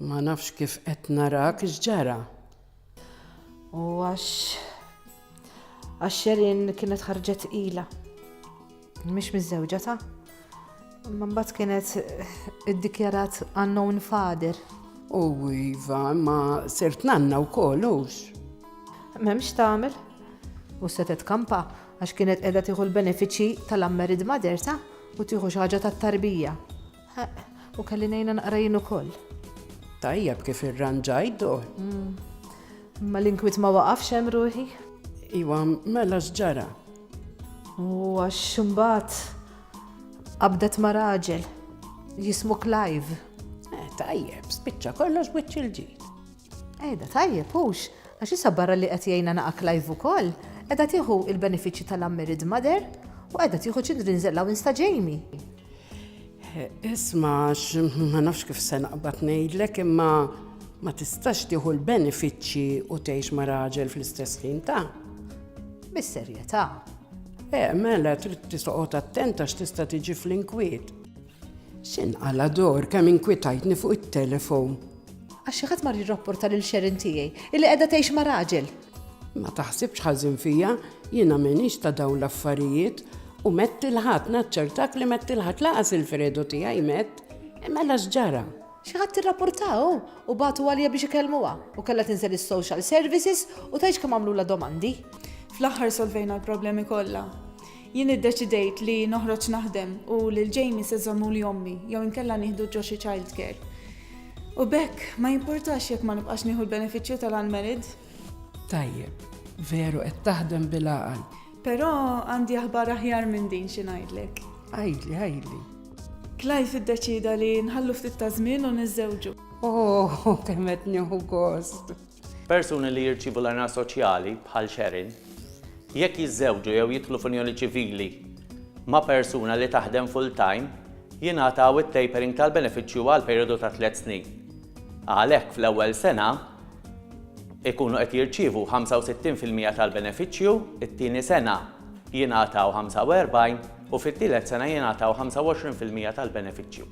Ma nafx kif qed narak x'ġara. U għax għax Sherin kienet ħarġet ila. Mhix miżżewġa ta' Ma mbagħad kienet iddikjarat unknown father. U iva, ma sirt nanna wkoll hux. M'hemmx tagħmel. U setet kampa Għax kienet qiegħda tieħu l-benefiċċji tal-unmarried mother tagħha u tieħu xi ħaġa tat-tarbija. Ħaqq, u kelli ngħinha naqra jien ukoll. Tajjeb kif irranġajt dur. Imma l-inkwiet ma waqafx hemm ruħi. Iwa, mela x'ġara? U għax imbagħad qabdet ma' raġel jismu Clive. Eh, tajjeb, spiċċa kollox wiċċ il-ġid. Qiegħda tajjeb, hux? Għax issa barra li qed jgħinna naqa' Clive ukoll, qiegħda tieħu l-benefiċċji tal-unmarried mother u qiegħda tieħu children's allowance ta' Jamie. Isma' għax ma nafx kif se naqbad ngħidlek imma ma tistax tieħu l-benefiċċji u tgħix ma' raġel fl-istess ħin ta'. Bis-serjetà. Eh, mela trid tisoqgħod attent għax tista' tiġi fl-inkwiet. X'inqal' ador kemm inkwitajtni fuq it-telefon. Għax xi ħadd mar jirrapporta lil Sharon tiegħi illi qiegħda tgħix ma' raġel. Ma taħsibx ħażin fija, jiena m'iniex ta' dawn l-affarijiet u mett il-Ħadd, naċċertak li mett il-Ħadd lanqas il-Fredo tiegħi mett. Mela x'ġara? Xi ħadd irrapportah hu u bagħtu għalija biex ikellmuha u kellha tinżel is-social services u tgħidx kemm għamlulha domandi. Fl-aħħar solvejna l-problemi kollha. Jien iddeċidejt li noħroġ naħdem u lil Jamie se żommuli ommi jew inkella nieħdu ġo xi childcare. U b'hekk ma jimpurtax jekk ma nibqax nieħu l-benefiċċju tal-unmarried. Tajjeb, veru qed taħdem bil-għaqal. Però għandi aħbar aħjar minn din xi ngħidlek. Għidli, għidli. Clive iddeċida li nħallu ftit ta' żmien u niżżewġu. Oh, kemm qed nieħu gost. Persuni li jirċievu l-għajnuna soċjali, bħal Sharon, jekk jiżżewġu jew jidħlu f'unjoni ċivili ma' persuna li taħdem full-time, jingħataw it-tapering tal-benefiċċju għal perijodu ta' tliet snin. Għalhekk, fl-ewwel sena, ikunu qed jirċievu 65 fil-mija tal-benefiċċju, it-tieni sena jingħataw 45 u fit-tielet sena jingħataw 25 fil-mija tal-benefiċċju.